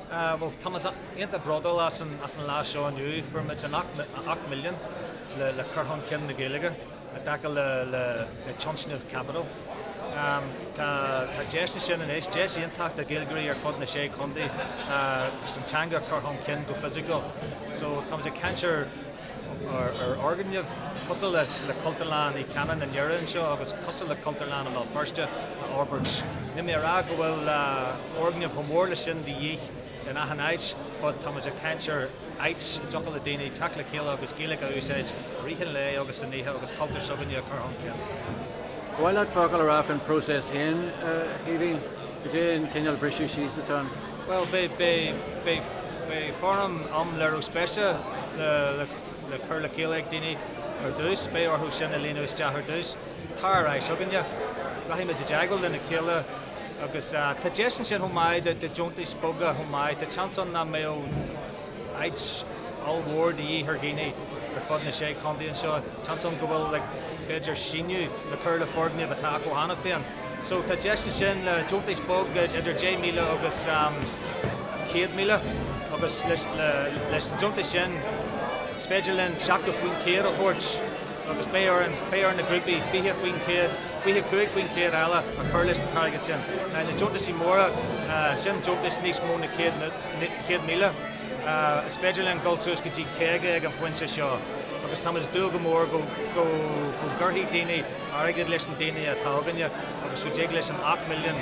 Bhuel, tá muid iontach bródúil as an lá seo inniu. Fuair muid an t-ocht milliún le cur chun cinn na Gaeilge i dtaca le tionscnamh Capital. Tá deis ansin anois, deis iontach do Ghaeilgeoirí ar fud na sé chontae is an teanga a chur chun cinn go fisiciúil. So, tá muid ag caint ar. ar fhoirgnimh cosúil le Cultúrlann Uí Chanáin i nDoire anseo agus cosúil le Cultúrlann i mBéal Feirste a fhorbairt. Níl mé a rá go bhfuil foirgnimh chomh mór le sin de dhíth in achan áit, but tá muid ag caint ar áit a dtiocfadh le daoine teacht le chéile agus Gaeilge a úsáid i rith an lae agus an oíche agus cultúr s'againne a chur chun cinn. Ba mhaith leat focal a rá faoin phróiseas féin, a Chaoimhín. Cad é an cineál briseadh síos atá ann? Bhuel, beidh foirm léirithe spéise le cur le chéile ag daoine ar dtús, beidh orthu sin a líonadh isteach ar dtús. Tar ar ais againne. Rachaidh muid i dteagmháil lena chéile agus tá deis ansin chomh maith do dheontais beaga chomh maith. Tá seans ann nach mbeadh áit ollmhór de dhíth ar dhaoine ar fud na sé chontae anseo. Seans ann go bhfuil b'fhéidir síneadh le cur le foirgnimh atá acu cheana féin. So tá deis ansin le deontais bheaga idir deich míle agus céad míle agus leis na deontais sin is féidir linn seachtó cúig faoin chéad a thabhairt agus beidh orainn, beidh ar na grúpaí fiche faoin chéad, fiche cúig faoin chéad eile a chur leis an target sin. Na deontais móra, sin deontais níos mó na céad, céad míle, is féidir linn dhul suas go dtí caoga ag an phointe seo agus tá muid ag dúil go mór go, go, go gcuirfidh daoine, airgead leis na daoine atá againne agus go dtig linn an ocht milliún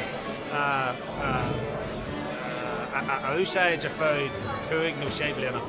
a úsáid ar feadh cúig nó sé bliana.